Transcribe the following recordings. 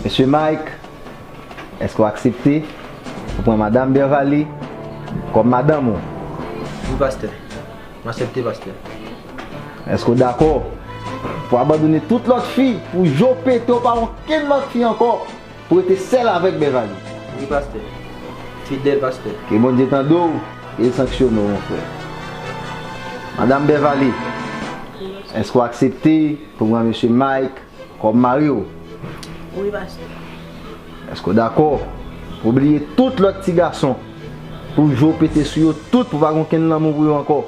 Mesye Mike, èske w aksepte pou pran Madam Bervalie kòm madanm ou? Wi, pastè. M asepte, pastè. Èske w dakò pou abandone tout lòt fi pou je w pete w pa wè okenn lòt fi ankò pou w rete sèl avèk Bervalie? Wi, pastè. Fidèl, pastè. Ke Bondye tande w e l sanksyone w, monfrè. Madam Bervalie, èske w aksepte pou pran Mesye Mike Kò m mari w. Wi pastè. Èske w dakò pou w bliye tout lòt ti gason, pou w jwe w pete sou yo tout pou pa gen okenn lanmou pou yo ankò,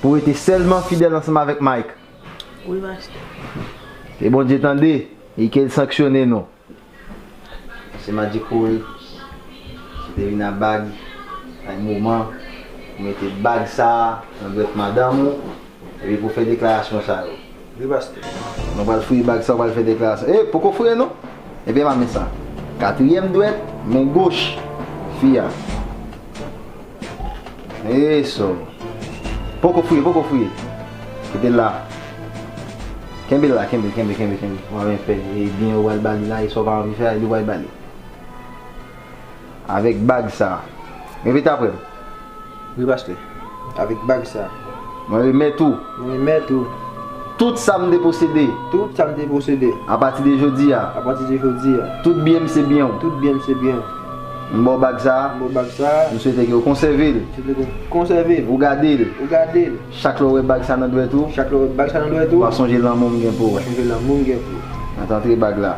pou w rete sèlman fidèl ansanm avèk Mike? Wi pastè. Ke Bondye tande e ke l sanksyone nou. Se Madi Cool, se te vin a bag, sa e moman pou mete bag sa nan dwèt madanm ou epi pou fè deklarasyon sa yo. Wi pastè. Mwen pral fouye bag sa ou pral fè deklarasyon. E, poko fouye non. Ebyen mame sa. Katriyèm dwèt, men goch, fi a. Eee so. Poko fouye, poko fouye. Kite la. Kenbe la, kenbe, kenbe, kenbe, kenbe. Ou ap fè e byen ou al bali la e sa ou pa anvi fè a e li ou al bali. Avèk bag sa. Repete aprè m. Wi pastè. Avèk bag sa. Mwen remèt ou. Mwen remèt ou. Tout sa m te posede. Tout sa m te posede. A pati de jodi a. A pati de jodi a. Tout byen m se byen ou. Tout byen m se byen ou. M ba w bag sa a. M ba w bag sa a. M swete ke ou konsève l. M swete ke ou konsève l. Ou gade l. Ou gade l. Chak lè w wè bag sa nan dwèt ou. Chak lè w wè bag sa nan dwèt ou. W a sonje lanmou m gen pou ou. W a sonje lanmou m gen pou ou. Mwen te antre bag la.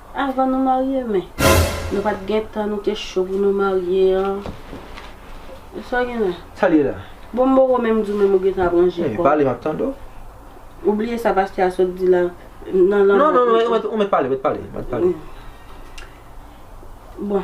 Avan nou marye men Nou pat gentan nou te cho pou nou marye an e sa gen la. Sal ye la. Bon m poko menm di w menm ou gentan ap ranje kòw. Pale map tande w. Ou bliye sa pastè a sot di la nan lanmò. Non non ou met pale ou met pale. Bon.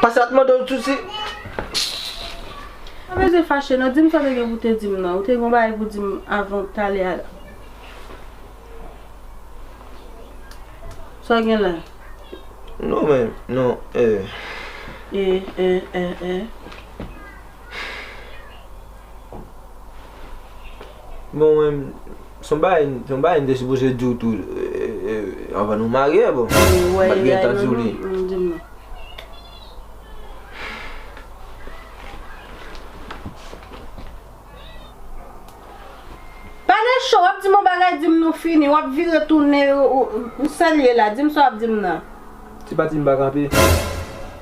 Pase la t mande w sousi. Pa beze fache non, di m sa w te gen pou w te di m nan. Ou te gen yon bagay pou w di m avan w t ale a la. Sa w gen la? Non men, non, eh. Eh, eh, eh, eh. Bon men. Se yon bagay se yon bagay m te sipoze di w tou anvan nou marye bon m pat gentan di w li. Ou wè li la e non non di m non. Pale cho wap di m yon bagay di m nou fini wap vire tounen ou sèl ye la di m sa wap di m nan. Se pa di m pa kanpe.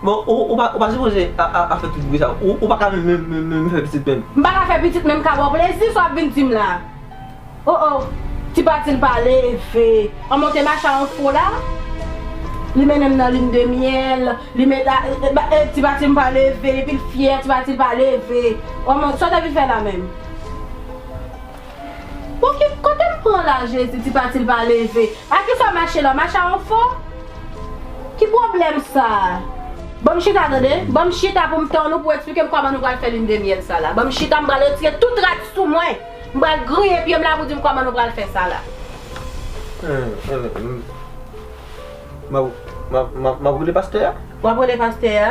Bon ou pa ou pa sipoze a fè tout bri sa ou paka menm fè pitit menm. M paka fè pitit menm ka baw plezi sa wap vin dim la oh oh ti patil pa leve an monte macha an fo la li mennenm nan lune de miel li met a ti patil m pa leve epil fyè ti patil pa leve oh mon sa w ta vin fè la menm. Bon ki kote m pran la jezi ti pati l pa leve a kisa mache la mache a on fo ki pwoblèm sa. Banm chita tande, banm chita poum tann ou pou eksplike m kòman nou pral fè lune de miel sa la. Banm chita m pral retire tout rad sou mwen, m pral griyen pye m la pou di m kòman nou pral fè sa la. Map rele pastè a? Wap rele pastè a?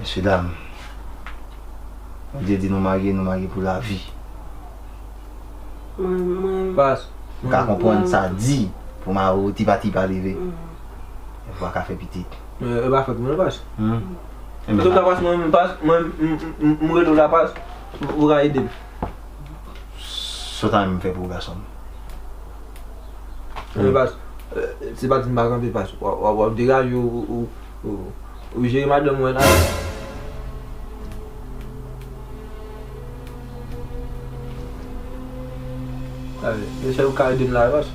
Mesye dam, Bondye di nou marye, nou marye pou lavi. Mwen pa ka konprann sa di pou mari w tipa tipa leve e pou a ka fè pitit. E pa fòt mwen non pas. Mwen rele w la pas pou w ka ede m. Sa w ta renmen m fè pou ou gason m? Anmwey pas, se pa di m pa kanpe pas, w ap degaje w ou jere madanm mwen la. Anmwey sè ou ka ede m la pas,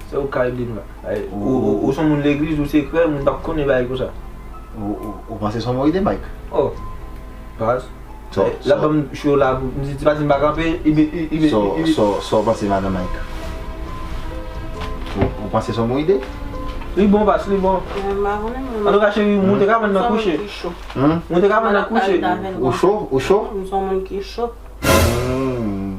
sè ou ka ede m la. Ou son moun legliz, ou se krè, moun pa p konnen bagay konsa. Ou panse son bon ide Mike? Oh, pas. So, so. Lap banm show la pou, m di ti Patin pa kanpe, i be, i, i be, i, i be. So, so, sa w panse madan Mike? Ou, ou panse s on bon ide? Li bon pas, li bon. Mwen pa konnen mwen. An tou ka cheri, mwen te ka pran nan kouche. M son moun ki cho. Mwen te ka pran nan kouche. Ou cho? Ou cho? M son moun ki cho. Humm.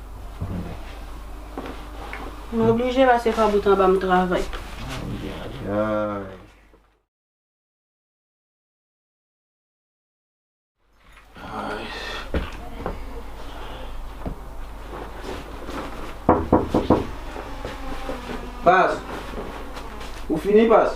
M oblije pase pa bout anba m travay. Ayayayay. Pas! Ou fini, Pas?